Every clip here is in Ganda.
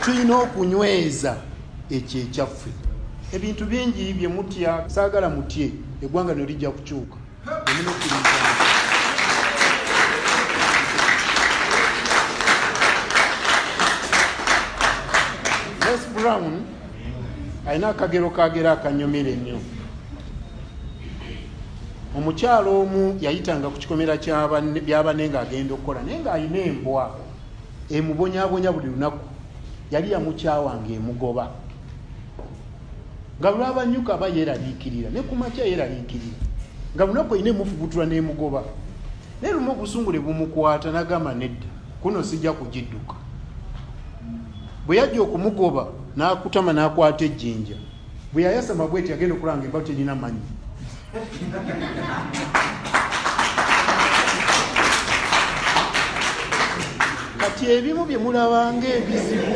tulina okunyweza ekyo ekyaffe ebintu bingi bye mutya saagala mutye eggwanga lino lijja kukyuka les brown alina akagero kagera akanyumira ennyo omukyalo omu yayitanga ku kikomera byabanne ng'agenda okukola naye ng'alina embwa emubonyabonya buli lunaku yali yamukyawa nga emugoba nga lwabanyuka aba yeraliikirira ne ku makya yeraliikirira nga lunaku erina emufubutula n'emugoba naye lumu obusungu ne bumukwata nagamba nedda kuno sijja kugidduka bwe yajja okumugoba n'akutama n'akwata ejjinja bwe yayasama bweti agenda okulanga embago terina manyi kati ebimu bye mulabanga ebizibu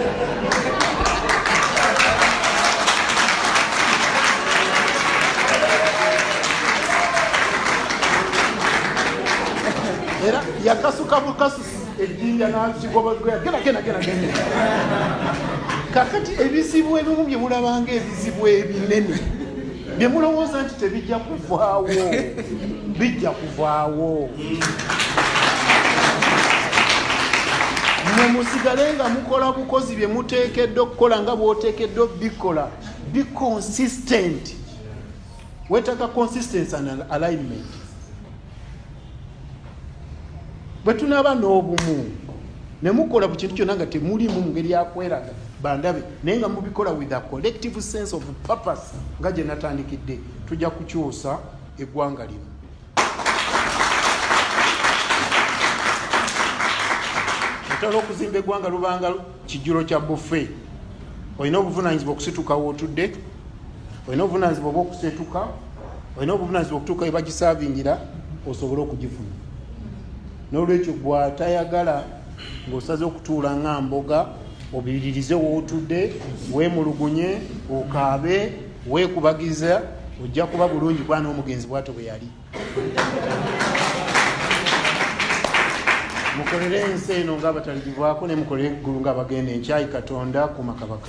era yakasuka bukasu ejjinja nazigobagoya gena gena gena gena kakati ebizibu ebimu bye mulabanga ebizibu ebinene bye mulowooza nti tebijja kuvaawo bijja kuvaawo mwe musigale nga mukola bukozi bye muteekeddwa okukola nga bwoteekeddwa obikola be consistent wetaka consistency and alignment bwe tunaaba n'obumu ne mukola ku kintu kyonna nga temulimu mu ngeri yakweraga bandabe naye nga mubikola with a collective sense of purpose nga gye natandikidde tujja kukyusa eggwanga lino otala okuzimba eggwanga lubanga kijjulo kya bufe olina obuvunanyizibwa okusituka wootudde olina obuvunanyizibwa oba okusetuka olina obuvunanyizibwa okutuuka webagisavingira osobole okugifuna nolwekyo gwatayagala ngaosaze okutuula nga mboga obiririze wootudde wemulugunye okaabe wekubagiza ojja kuba bulungi kwana omugenzi bwato bwe yali mukolere ensi eno nga abatalibibwako ne mukolere eggulu nga abagenda enkyayi katonda kuma kabaka